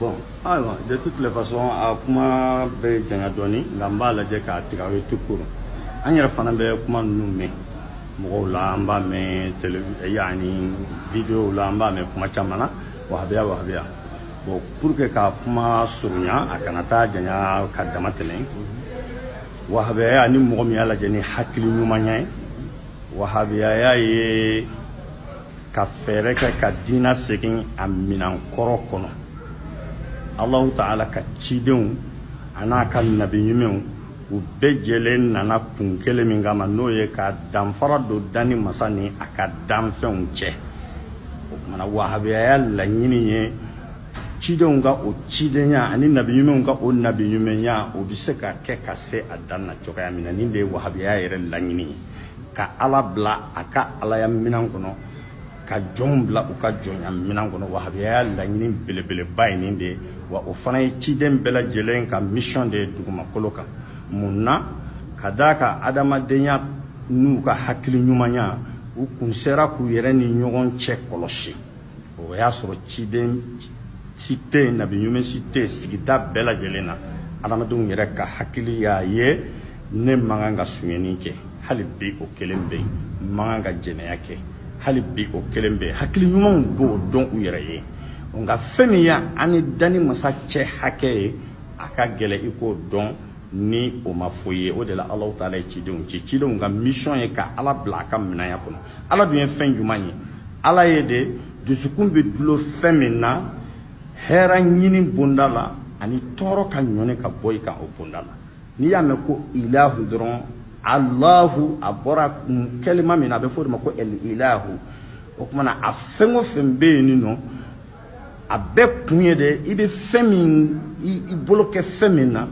Bon ayiwa de toutes les façons a kuma bɛ janya dɔɔnin nka n b'a lajɛ k'a tigɛ aw ye tout court an yɛrɛ fana bɛ kuma ninnu mɛn mɔgɔw la an b'a mɛn tele yani videow la an b'a mɛn kuma caman na wahabiya wahabiya bon pour que ka kuma surunya a kana taa janya ka dama tɛmɛ wahabiya ni mɔgɔ min y'a lajɛ ni hakili ɲumanya ye wahabiyaya ye ka fɛɛrɛ kɛ ka diina segin a minan kɔrɔ kɔnɔ alahu taala ka cidenw an'a ka nabi ɲumanw u bɛɛ jɛlen nana kun kelen min kama n'o ye ka danfara don danni masa ni a ka danfɛnw cɛ o kumana wahabiyaya laɲini ye cidenw ka o cidenya ani nabi ɲumanw ka o nabi ɲumanya o bɛ se ka kɛ ka se a dan na cogoya min na nin de ye wahabiyaya yɛrɛ laɲini ye ka ala bila a ka alaya minan kɔnɔ ka jɔnw bila u ka jɔnya minan kɔnɔ wahabiyaya laɲini belebeleba ye nin de ye wa o fana ye ciden bɛɛ lajɛlen ka mission de ye dugumakolo kan mun na ka d'a kan adamadenya n'u ka hakili ɲumanya u kun sera k'u yɛrɛ ni ɲɔgɔn cɛ kɔlɔsi o y'a sɔrɔ ciden si tɛ yen nabi ɲuman si tɛ yen sigida bɛɛ lajɛlen na adamadenw yɛrɛ ka hakili y'a ye ne man kan ka sunyɛni kɛ hali bi o kelen bɛ yen n man kan ka jɛnɛya kɛ hali bi o kelen bɛ yen hakili ɲumanw b'o dɔn u yɛrɛ ye nka fɛn min y'an ni danni masa cɛ hakɛ ye a ka gɛlɛn i k'o dɔn ni o ma fɔ i ye o de la alahu taala ye cidenw ci cidenw ka mission ye ka ala bila a ka minanya kɔnɔ ala dun ye fɛn juman ye ala ye de dusukun bɛ dulon fɛn min na hɛrɛ ɲini bonda la ani tɔɔrɔ ka ɲɔni ka bɔ i kan o bonda la n'i y'a mɛn ko ilahu dɔrɔn alahu a bɔra kɛlima min na a bɛ fɔ o de ma ko al ilahu o kumana a fɛn o fɛn bɛ yen nin nɔ a bɛɛ kun ye de i bɛ fɛn min i bolo kɛ fɛn min na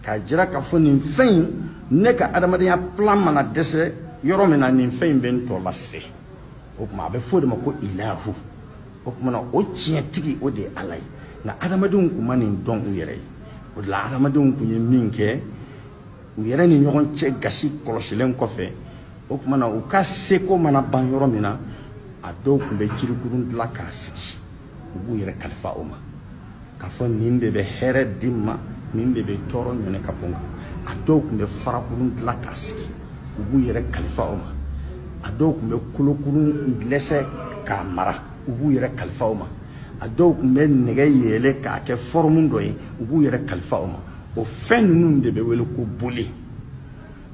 k'a jira k'a fɔ nin fɛn in ne ka adamadenya plan mana dɛsɛ yɔrɔ min na nin fɛn in bɛ n tɔ lase o kuma a bɛ f'o de ma ko ilahu o kumana o tiɲɛtigi o de ye ala ye nka adamadenw kun ma nin dɔn u yɛrɛ ye o de la adamadenw kun ye min kɛ u yɛrɛ ni ɲɔgɔn cɛ gasi kɔlɔsilen kɔfɛ o kumana u ka seko mana ban yɔrɔ min na a dɔw kun bɛ jirikurun dilan k'a sigi u b'u yɛrɛ kalifa o ma k'a fɔ nin de bɛ hɛrɛ di n ma nin de bɛ tɔɔrɔ ɲɔni ka bɔ n kan a dɔw kun bɛ farakurun dilan k'a sigi u b'u yɛrɛ kalifa o ma a dɔw kun bɛ kolokurun lɛsɛ k'a mara u b'u yɛrɛ kalifa o ma a dɔw kun bɛ nɛgɛ yeele k'a kɛ fɔrɔmu dɔ ye u b'u yɛrɛ kalifa o ma o fɛn ninnu de bɛ wele ko boli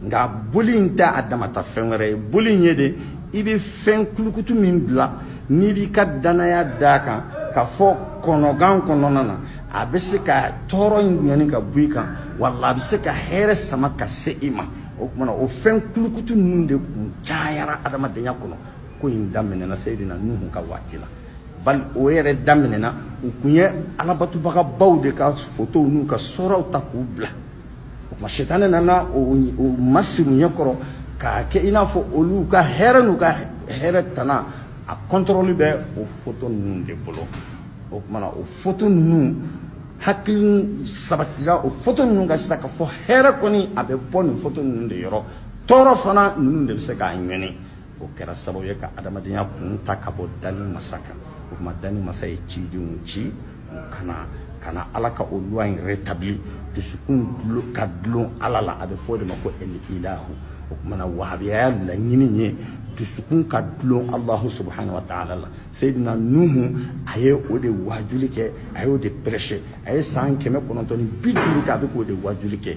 nka boli in tɛ a damata fɛn wɛrɛ ye boli in ye de i bɛ fɛn kulukutu min bila n'i b'i ka danaya d'a kan k'a fɔ kɔnɔgan kɔnɔna na a bɛ se ka tɔɔrɔ ɲɔni ka bɔ i kan wala a bɛ se ka hɛrɛ sama ka se i ma o kuma na o fɛn kulukutu ninnu de kun cayara adamadenya kɔnɔ ko in daminɛna seyidina nuhu ka waati la bali o yɛrɛ daminɛna u kun ye alabatobagabaw de ka fotow n'u ka suraw ta k'u bila ma sitani nana o masiri u ɲɛ kɔrɔ k'a kɛ i n'a fɔ olu ka hɛrɛ n'u ka hɛrɛ tana a kɔntɔrɔli bɛ o foto ninnu de bolo o kuma na o foto ninnu hakili sabatira o foto ninnu kan sisan k'a fɔ hɛrɛ kɔni a bɛ bɔ nin foto ninnu de yɔrɔ tɔɔrɔ fana ninnu de bɛ se k'a ɲɔni o kɛra sababu ye ka adamadenya kun ta ka bɔ danni masa kan o kuma danni masa ye cidenw ci ka na ka na ala ka o loi in rétabli dusukun ka dulon ala la a bɛ fɔ o de ma ko el ilahu o kuma na wahabiyaya laɲini ye dusukun ka dulon alahu subhanahu wa taala la seyidina nuhu a ye o de wajuli kɛ a y'o de prêcher a ye san kɛmɛ kɔnɔntɔn ni bi duuru kɛ a bɛ k'o de wajuli kɛ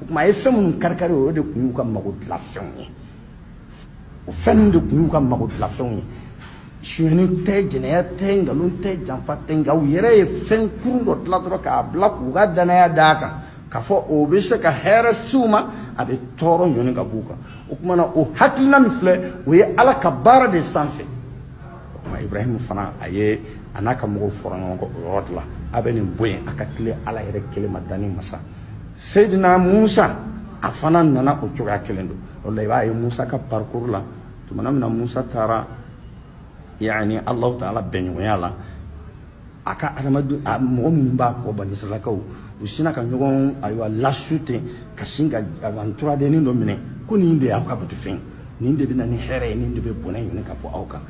o tuma a ye fɛn minnu karikari o de tun y'u ka mago dilan fɛnw ye o fɛn ninnu de tun y'u ka mago dilan fɛnw ye sonyani tɛ jɛnɛya tɛ nkalon tɛ janfa tɛ nka u yɛrɛ ye fɛn kurun dɔ dilan dɔrɔn k'a bila k'u ka danaya d'a kan k'a fɔ o bɛ se ka hɛrɛ se u ma a bɛ tɔɔrɔ ɲɔni ka b'u kan o tuma na o hakilina min filɛ o ye ala ka baara de sanfɛ o tuma ibrahim fana a ye a n'a ka mɔgɔw fɔra ɲɔgɔn kɔ o yɔrɔ de la a bɛ nin bɔ yen a ka tilen ala yɛrɛ kelen ma danni masa Seydina Musa a fana nana o cogoya kelen don o la i b'a ye Musa ka parcours la tumana min na Musa taara yani Alahu Taala bɛnɲɔgɔnya la a ka adamaden a mɔgɔ minnu b'a kɔ banisirayilakaw u sina ka ɲɔgɔn ayiwa lasu ten ka sin ka nturadenin dɔ minɛ ko nin de y'aw ka batufɛn nin de bɛ na ni hɛrɛ ye nin de bɛ bɔnɛ ɲɔni ka bɔ aw kan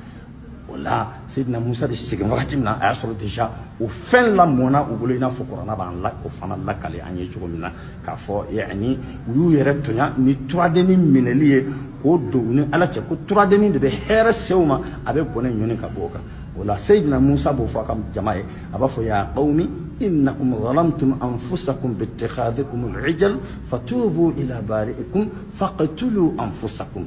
o la Seydina Musa de segin wagati min na a y'a sɔrɔ déjà o fɛn lamɔna u bolo i n'a fɔ kurana b'an la o fana lakali an ye cogo min na k'a fɔ yani u y'u yɛrɛ tɔɲɔ ni turadenin minɛli ye k'o don u ni ala cɛ ko turadenin de bɛ hɛrɛ se u ma a bɛ bɔnɛ ɲɔni ka bɔ u kan o la Seydina Musa b'o fɔ a ka jama ye a b'a fɔ ya qawmi innakum zalamtum anfusakum biittikhadikum al-ijl fatubu ila bari'ikum faqtulu anfusakum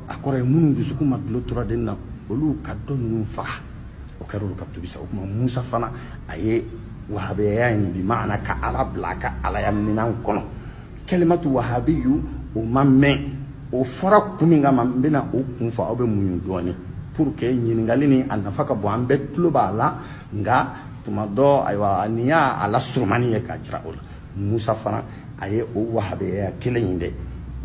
a kɔrɔ ye minnu dusukun ma dulon turaden na olu ka dɔ ninnu faga o kɛra olu ka tubi sa o tuma musa fana a ye wahabiyaya in bi maana ka ala bila a ka alaya minɛn kɔnɔ kɛlimatu wahabiyu o ma mɛn o fɔra kun min kama n bɛna o kun fɔ aw bɛ muɲu dɔɔnin pour que ɲininkali nin a nafa ka bon an bɛɛ tulo b'a la nka tuma dɔ ayiwa nin y'a a lasurumani ye k'a jira o la musa fana a ye o wahabeya kelen in de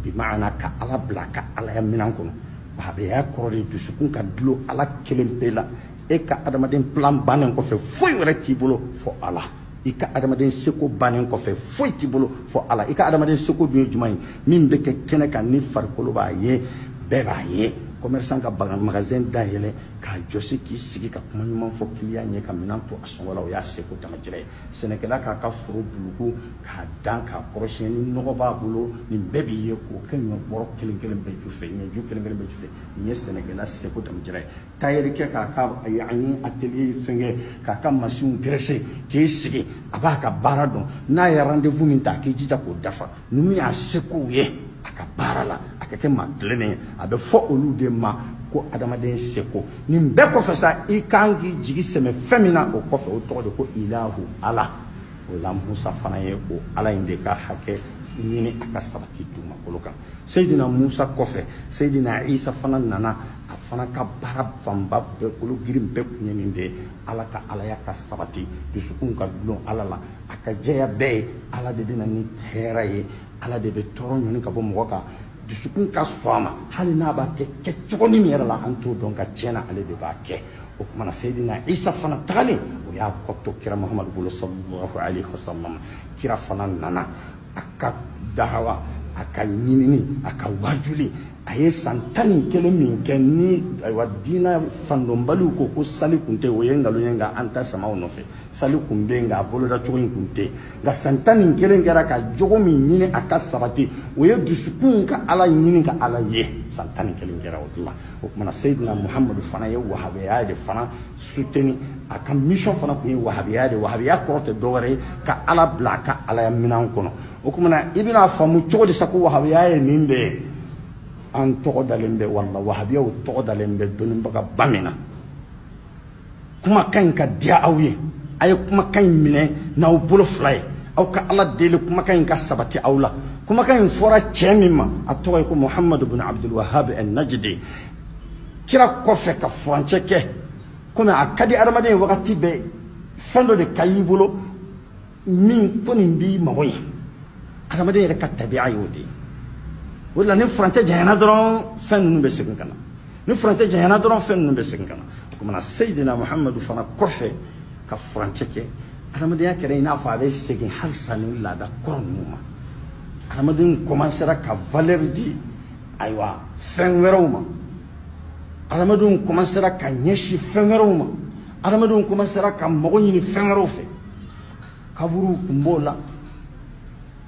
bi maana ka ala bila a ka alaya minan kɔnɔ wahabeya kɔrɔ de dusukun ka dulon ala kelen pe la e ka adamaden plan bannen kɔfɛ foyi wɛrɛ t'i bolo fɔ ala i ka adamaden seko bannen kɔfɛ foyi t'i bolo fɔ ala i ka adamaden seko dun ye jumɛn ye min bɛ kɛ kɛnɛ kan ni farikolo b'a ye bɛɛ b'a ye commerçant k'a ka magasin dayɛlɛ k'a jɔsi k'i sigi ka kuma ɲuman fɔ client ɲɛ ka minan to a sɔngɔ la o y'a seko damajira ye sɛnɛkɛla k'a ka foro buluku k'a dan k'a kɔrɔsiyɛn ni nɔgɔ b'a bolo nin bɛɛ b'i ye k'o kɛ ɲɔ bɔrɔ kelen kelen bɛɛ ju fɛ ɲɔju kelen kelen bɛɛ ju fɛ nin ye sɛnɛkɛla seko damajira ye tayɛrikɛ k'a ka yaani atelier fɛnkɛ k'a ka masinw graisser k'i sigi a b'a ka baara dɔn n'a ye rendez-vous min ta a k'i jija k'o dafa ninnu y'a sekow ye a ka baara la a ka kɛ maa tilennen ye a bɛ fɔ olu de ma ko adamaden seko nin bɛɛ kɔfɛ sa i kan k'i jigi sɛmɛ fɛn min na o kɔfɛ o tɔgɔ de ko ilahu ala o la musa fana ye o ala in de ka hakɛ ɲini a ka sabati dugumakolo kan seyidina musa kɔfɛ seyidina isa fana nana a fana ka baara fanba bɛɛ kolo girin bɛɛ kun ye nin de ye ala ka alaya ka sabati dusukun ka dulon ala la a ka jɛya bɛɛ ye ala de bɛna ni hɛrɛ ye ala de bɛ tɔɔrɔ ɲɔni ka bɔ mɔgɔ kan dusukun ka sɔn a ma hali n'a b'a kɛ kɛ cogo min yɛrɛ la an t'o dɔn nka tiɲɛ na ale de b'a kɛ o kumana seyidina isa fana tagalen o y'a kɔ to kira muhamadu bolo sallallahu alaihi wasallam kira fana nana a ka dahawa a ka ɲinini a ka wajuli a ye san tan ni kelen min kɛ ni ayiwa diina fandɔnbaliw ko ko sali kun tɛ o ye nkalon ye nka an ta samaw nɔfɛ sali kun bɛ nka a boloda cogo in kun tɛ nka san tan ni kelen kɛra ka jogo min ɲini a ka sabati o ye dusukun ka ala ɲini ka ala ye san tan ni kelen kɛra o la o tumana seyidina muhamadu fana ye wahabiya de fana soutenir a ka mission fana kun ye wahabiya de wahabiya kɔrɔ tɛ dɔwɛrɛ ye ka ala bila a ka alaya minɛn kɔnɔ o kumana i bɛna faamu cogo di sa ko wahabiya ye nin de ye an tɔgɔ dalen bɛ wala wahabiyaw tɔgɔ dalen bɛ dɔnnibaga ba min na kumakan in ka diya aw ye a ye kumakan in minɛ n'aw bolo fila ye aw ka ala deli kumakan in ka sabati aw la kumakan in fɔra cɛ min ma a tɔgɔ ye ko muhamadu bin abdulwahab al najidi kira kɔfɛ ka furancɛ kɛ komi a ka di adamaden ye wagati bɛɛ fɛn dɔ de ka y'i bolo min ko nin b'i mago ɲɛ adamaden yɛrɛ ka tabiya y'o de ye o de la ni furancɛ janyana dɔrɔn fɛn ninnu bɛ segin ka na ni furancɛ janyana dɔrɔn fɛn ninnu bɛ segin ka na o kumana seyidina muhamadu fana kɔfɛ ka furancɛ kɛ adamadenya kɛra i n'a fɔ a bɛ segin halisa ni laada kɔrɔ ninnu ma adamaden kɔmansera ka valeur di ayiwa fɛn wɛrɛw ma adamadenw kɔmansera ka ɲɛsin fɛn wɛrɛw ma adamadenw kɔmansera ka mago ɲini fɛn wɛrɛw fɛ kaburuw kun b'o la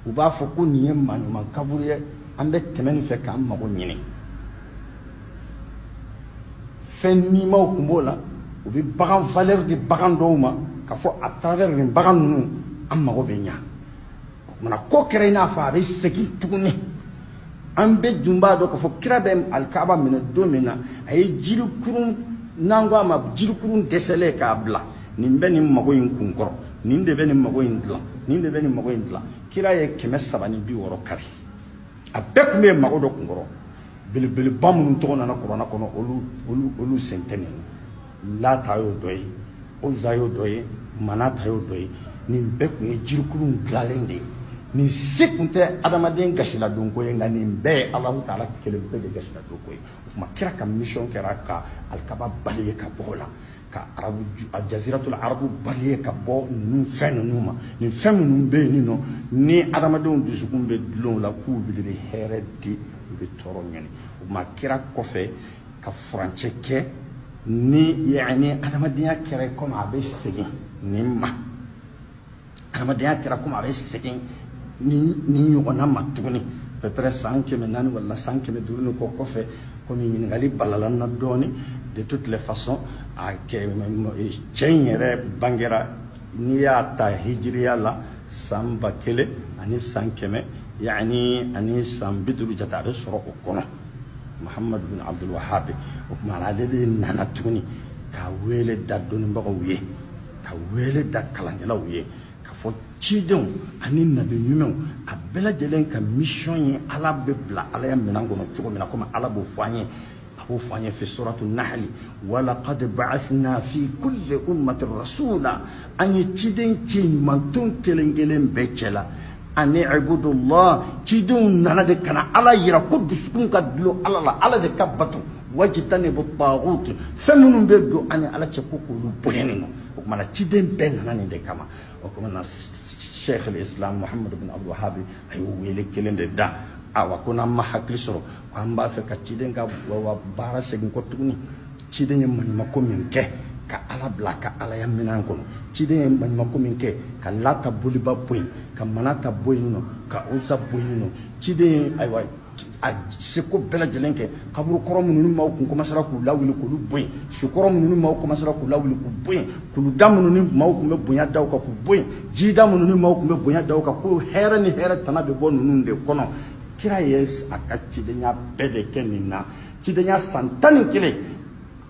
u b'a fɔ ko nin ye maaɲuman kaburu ye an bɛ tɛmɛ nin fɛ k'an mago ɲini fɛn nimaw kun b'o la u bɛ bagan valeur di bagan dɔw ma k'a fɔ à travers nin bagan ninnu an mago bɛ ɲa o kumana ko kɛra i n'a fɔ a bɛ segin tuguni an bɛɛ dun b'a dɔn k'a fɔ kira bɛ alikaba minɛ don min na a ye jirikurun n'an ko a ma jirikurun dɛsɛlen k'a bila nin bɛ nin mago in kun kɔrɔ nin de bɛ nin mago in dilan nin de bɛ nin mago in dilan kira ye kɛmɛ saba ni bi wɔɔrɔ kari a bɛɛ tun bɛ yen mago dɔ kun kɔrɔ belebeleba minnu tɔgɔ nana kuranna kɔnɔ olu olu olu sen tɛ nin lata y'o dɔ ye uza y'o dɔ ye manata y'o dɔ ye nin bɛɛ tun ye jirikurun dilanlen de ye nin si tun tɛ adamaden gasiladonko ye nka nin bɛɛ ye alahu taala kelen pe de gasiladonko ye o tuma kira ka misiyɔn kɛra ka alikaba balayer ka bɔ o la ka arabu a jaziratul arabu balayer ka bɔ ninnu fɛn ninnu ma nin fɛn minnu bɛ yen nɔ ni adamadenw dusukun bɛ dulon u la k'u de bɛ hɛrɛ di u bɛ tɔɔrɔ ɲɔni o ma kira kɔfɛ ka furancɛ kɛ ni yani adamadenya kɛra komi a bɛ segin nin ma adamadenya kɛra komi a bɛ segin nin ɲɔgɔnna ma tuguni à peu près san kɛmɛ naani wala san kɛmɛ duuru ni kɔ kɔfɛ komi ɲininkali balala n na dɔɔni de toutes les façons a cɛ in yɛrɛ bangera n'i y'a ta hijiriya la san ba kelen ani san kɛmɛ yani ani san bi duuru jate a bɛ sɔrɔ o kɔnɔ muhammadu bin abdul wahabi o tuma ale de nana tuguni ka wele da dɔnnibagaw ye ka wele da kalankɛlaw ye k'a fɔ cidenw ani nabi ɲumanw a bɛɛ lajɛlen ka misiyɔn ye ala bɛ bila alaya minɛn kɔnɔ cogo min na komi ala b'o fɔ an ye a b'o fɔ an ye fi suratu nahali walaqad ba'athna fi kulli ummatin rasula an ye ciden ci umatɔn kelen kelen bɛɛ cɛ la ani ibudullah cidenw nana de ka na ala yira ko dusukun ka dulon ala la ala de ka bato wajtanibu taghut fɛn minnu bɛ don an ni ala cɛ ko k'olu bɔ yen nɔ o kumana ciden bɛɛ nana nin de kama o kumana sheikh al islam muhammad bin abdul wahabi a y'o wele kelen de da awa ko n'an ma hakili sɔrɔ ko an b'a fɛ ka ciden ka baara segin kɔ tuguni ciden ye maɲumako min kɛ ka ala bila ka alaya minɛn kɔnɔ ciden ye maɲumako min kɛ ka lata boliba bɔ yen ka manata bɔ yen nɔ ka uza bɔ yen nɔ ciden ye ayiwa a seko bɛɛ lajɛlen kɛ kaburu kɔrɔ minnu ni maaw kun komasara k'u lawuli k'olu bɔ yen su kɔrɔ minnu ni maaw komasara k'u lawuli k'u bɔ yen kuluda minnu ni maaw kun bɛ bonya da u kan k'u bɔ yen jida minnu ni maaw kun bɛ bonya da u kan ko hɛrɛ ni hɛrɛ tana bɛ bɔ ninnu de kɔnɔ kira ye a ka cidenya bɛɛ de kɛ nin na cidenya san tan ni kelen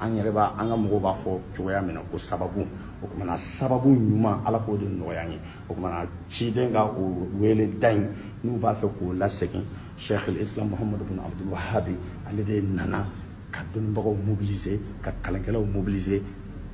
an yɛrɛ b'a an ka mɔgɔw b'a fɔ cogoya min na ko sababu o kumana sababu ɲuman ala k'o de nɔgɔya an ye o kumana ciden ka o wele da in n'u b'a fɛ k'o lasegin sheikh islam muhammadu bin abdul wahabi ale de nana ka dɔnnibagaw mobiliser ka kalankɛlaw mobiliser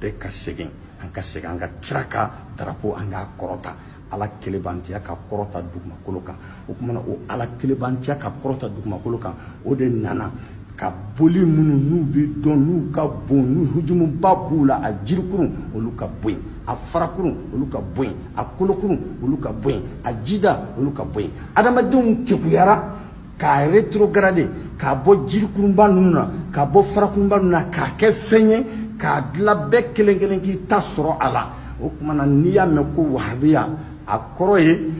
bɛɛ ka segin an ka segin an ka kira ka darapo an k'a kɔrɔta ala kelebantiya ka kɔrɔta dugumakolo kan o kumana o ala kelebantiya ka kɔrɔta dugumakolo kan o de nana ka boli minnu n'u bɛ dɔn n'u ka bon n'u hujumuba b'u la a jirikurun olu ka bɔ yen a farakurun olu ka bɔ yen a kolokurun olu ka bɔ yen a jida olu ka bɔ yen adamadenw kekuyara k'a retrograde k'a bɔ jirikurunba ninnu na k'a bɔ farakurunba ninnu na k'a kɛ fɛn ye k'a dila bɛɛ kelen kelen k'i ta sɔrɔ a la o kumana n'i y'a mɛn ko wahabiya a kɔrɔ ye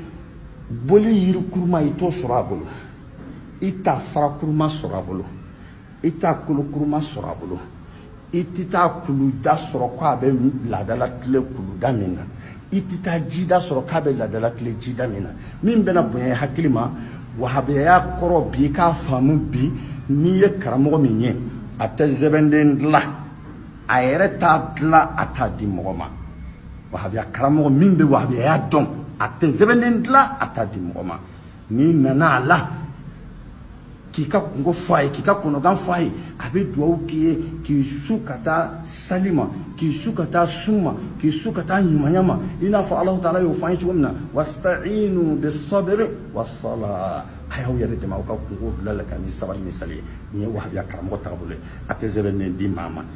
boli yirikuruma i t'o sɔrɔ a bolo i t'a farakuruma sɔrɔ a bolo i t'a kolokuruma sɔrɔ a bolo i tɛ taa kuluda sɔrɔ ko a bɛ laada latile kuluda min na i tɛ taa jida sɔrɔ k'a bɛ laada latile jida min na min bɛna bonya hakili ma wahabiyaya kɔrɔ bi k'a faamu bi n'i ye karamɔgɔ min ye a tɛ sɛbɛnden dilan a yɛrɛ t'a dilan a t'a di mɔgɔ ma wahabiya karamɔgɔ min bɛ wahabiyaya dɔn a tɛ sɛbɛnden dilan a t'a di mɔgɔ ma n'i nana a la k'i ka kungo fɔ a ye k'i ka kɔnɔgan fɔ a ye a bɛ dugawu k'i ye k'i su ka taa sali ma k'i su ka taa sun ma k'i su ka taa ɲumanya ma i n'a fɔ alahu taala y'o fɔ an ye cogo min na wastainu bisabiri wasala a y'aw yɛrɛ dɛmɛ aw ka kungo dilali kan ni sabali ni sali ye nin ye wahabiya karamɔgɔ taabolo ye a tɛ sɛbɛn di maa ma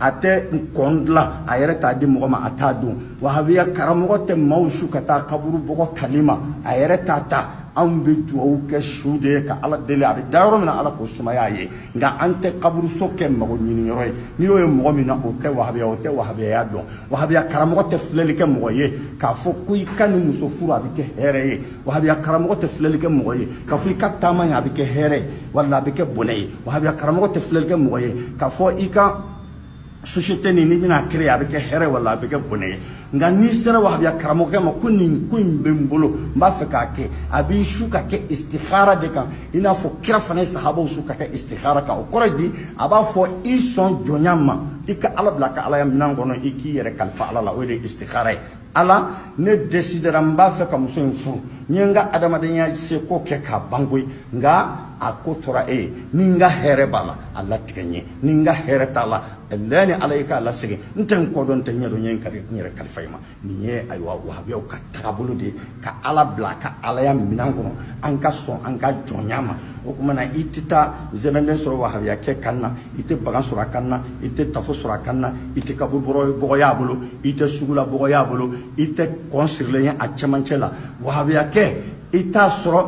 a tɛ kɔn dilan a yɛrɛ t'a di mɔgɔ ma a t'a don wahabiya karamɔgɔ tɛ maaw su ka taa kaburu bɔgɔ tali ma a yɛrɛ t'a ta anw bɛ dugawu kɛ su de ye ka ala deli a bɛ da yɔrɔ min na ala k'o sumaya a ye nka an tɛ kaburuso kɛ mago ɲini yɔrɔ ye n'i y'o ye mɔgɔ min na o tɛ wahabiya o tɛ wahabiyaya dɔn wahabiya karamɔgɔ tɛ filɛli kɛ mɔgɔ ye k'a fɔ ko i ka nin muso furu a bɛ kɛ hɛrɛ ye wahabiya karamɔgɔ tɛ filɛli kɛ mɔgɔ ye k'a fɔ i ka taama ye a bɛ kɛ hɛrɛ wala a bɛ kɛ bɔnɛ ye wahabiya karamɔgɔ tɛ filɛli kɛ mɔgɔ ye k'a fɔ i ka société nin n'i bɛna créer a bɛ kɛ hɛrɛ wala a bɛ kɛ bɔnɛ ye nka n'i sera wahabiya karamɔgɔkɛ ma ko nin ko in bɛ n bolo n b'a fɛ k'a kɛ a b'i su ka kɛ istihara de kan i n'a fɔ kira fana ye sahabaw su ka kɛ istihara kan o kɔrɔ di a b'a fɔ i sɔn jɔnya ma i ka ala bila a ka alaya minɛn kɔnɔ i k'i yɛrɛ kalifa ala la o de ye istihara ye ala ne desidera n b'a fɛ ka muso in furu n ye n ka adamadenya seko kɛ k'a ban koyi nka a ko tora e ye ni n ka hɛrɛ b'a la a latigɛ n ye ni n ka hɛrɛ t'a la ala jaani ala i k'a lasegin n tɛ n kɔ dɔn n tɛ n ɲɛ dɔn n ye n kari n yɛrɛ kalifa i ma nin ye ayiwa wahabiyaw ka tagabolo de ye ka ala bila ka alaya minɛn kɔnɔ an ka sɔn an ka jɔnya ma o tuma na i tɛ taa sɛbɛnden sɔrɔ wahabiya kɛ kan na i tɛ bagan sɔrɔ a kan na i tɛ tafo sɔrɔ a kan na i tɛ kaburu bɔgɔ y'a bolo i tɛ sugula bɔgɔ y'a bolo i tɛ kɔn sirilen ye a cɛmancɛ la wahabiya kɛ i t'a sɔrɔ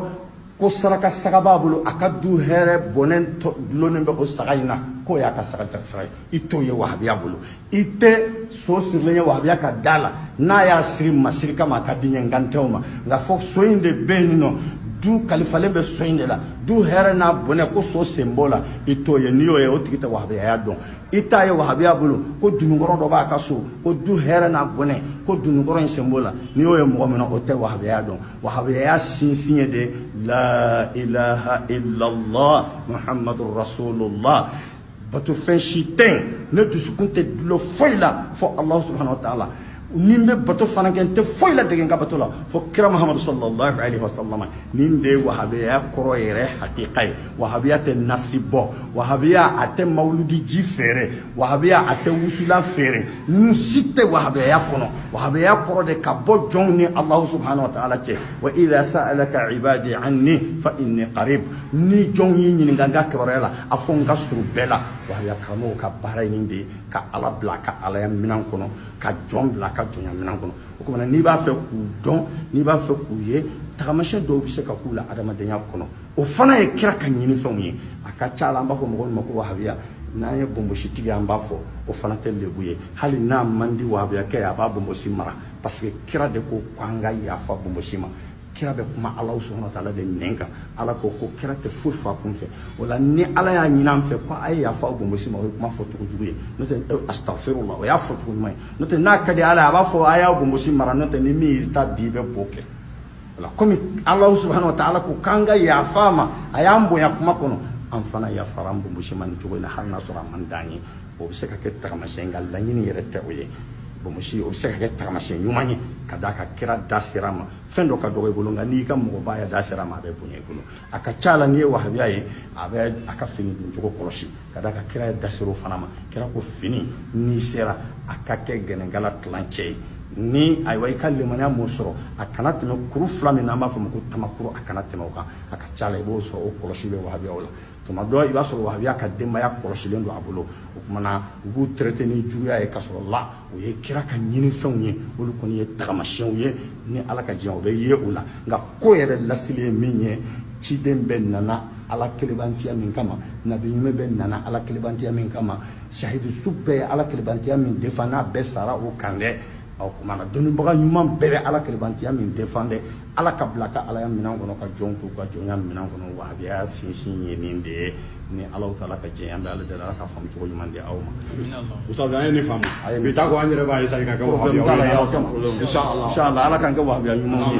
ko saraka saga b'a bolo a ka du hɛrɛ bɔnɛ dulonnen bɛ o saga in na k'o y'a ka saga saga ye i t'o ye wahabiya bolo i tɛ so sirilen ye wahabiya ka da la n'a y'a siri masiri kama a ka di ɲɛ n kan t'o ma nka fɔ so in de bɛ yen nɔ du kalifalen bɛ so in de la du hɛrɛ n'a bɔnɛ ko so sen b'o la i t'o ye n'i y'o ye o tigi tɛ wahabiyaya dɔn i t'a ye wahabiya bolo ko dononkɔrɔ dɔ b'a ka so ko du hɛrɛ n'a bɔnɛ ko dononkɔrɔ in sen b'o la n'i y'o ye mɔgɔ min na o tɛ wahabiyaya dɔn wahabiyaya sinsin ye de la ilaha illallah muhammadu rasulullah bato fɛn si tɛ yen ne dusukun tɛ dulon foyi la fo alahu subhanahu wa taala ni n bɛ bato fana kɛ n tɛ foyi ladege n ka bato la fo kira muhamadu sallallahu alaihi wa sallam nin de ye wahabiyaya kɔrɔ yɛrɛ hakika ye wahabiya tɛ nasi bɔ wahabiya a tɛ mawuludi ji feere wahabiya a tɛ wusula feere ninnu si tɛ wahabiyaya kɔnɔ wahabiyaya kɔrɔ de ka bɔ jɔnw ni alahu subhanahu wa taala cɛ wa idha sa'alaka ibadi anni fa inni qarib ni jɔnw y'i ɲininka n ka kibaruya la a fɔ n ka surun bɛɛ la wahabiya karamɔgɔw ka baara ye nin de ye ka ala bila ka alaya minɛn kɔnɔ ka jɔn bila ka jɔnya minɛn kɔnɔ o kuma na n'i b'a fɛ k'u dɔn n'i b'a fɛ k'u ye tagamasiyɛn dɔw bɛ se ka k'u la adamadenya kɔnɔ o fana ye kira ka ɲinifɛnw ye a ka ca la an b'a fɔ mɔgɔ min ma ko wahabiya n'an ye bonbonsitigi an b'a fɔ o fana tɛ lebu ye hali n'a man di wahabiyakɛ ye a b'a bonbonsi mara parce que kira de ko ko an ka yafa bonbonsi ma kira bɛ kuma ala subhanahu taala de nɛn kan ala ko ko kira tɛ foyi f'a kun fɛ o la ni ala y'a ɲini an fɛ ko a ye yafa bonbonsi ma o ye kuma fɔ cogo jugu ye n'o tɛ eh, astafirula o y'a fɔ cogo ɲuman ye n'o tɛ n'a ka di ala ye a b'a fɔ a y'a bonbonsi mara n'o tɛ ni min y'i ta di i bɛ b'o kɛ komi alahu subhanahu wa taala ko k'an ka yafa a ma a y'an bonya kuma kɔnɔ an fana yafara an bonbonsi ma nin cogo in na hali n'a sɔrɔ a man d'an ye o bɛ se ka kɛ tagamasiyɛn nka laɲini yɛrɛ tɛ o ye bonbonsi o bɛ se ka kɛ tagamasiyɛn ɲuman ye ka d'a kan kira da ser'a ma fɛn dɔ ka dɔgɔ i bolo nka n'i ka mɔgɔba ya da ser'a ma a bɛ bonya i bolo a ka ca la n'i ye wahabiya ye a bɛ a ka fini don cogo kɔlɔsi ka d'a kan kira yɛrɛ da ser'o fana ma kira ko fini n'i sera a ka kɛ gɛnɛnkala tilancɛ ye ni ayiwa i ka limaniya m'o sɔrɔ a kana tɛmɛ kuru fila min n'an b'a fɔ ma ko tamakuru a kana tɛmɛ o kan a ka ca la i b'o sɔrɔ o kɔlɔsi bɛ wahabiyaw la tuma dɔ i b'a sɔrɔ wahabiya ka denbaya kɔlɔsilen don a bolo o kuma na u b'u traité ni juguya ye ka sɔrɔ la o ye kira ka ɲinifɛnw ye olu kɔni ye tagamasiyɛnw ye ni ala ka diɲɛ o bɛ ye o la nka ko yɛrɛ lasili ye min ye ciden bɛɛ nana ala kelebantiya min kama nabi ɲuman bɛɛ nana ala kelebantiya min kama sahidu su bɛɛ ye ala kelebantiya min défendre n'a bɛɛ sara o kan dɛ ɔ kumana dɔnnibaga ɲuman bɛɛ bɛ ala kelebantiya min défendre ala ka bila a ka alaya minɛn kɔnɔ ka jɔn k'u ka jɔnya minɛn kɔnɔ wahabiya sinsin ye nin de ye ni alahu taala ka jɛn an bɛ ala deli ala ka faamu cogo ɲuman di aw ma ustaz an ye nin faamu bi taa ko an yɛrɛ b'a essayer ka kɛ wahabiya ye inshallah inshallah ala k'an kɛ wahabiya ɲumanw ye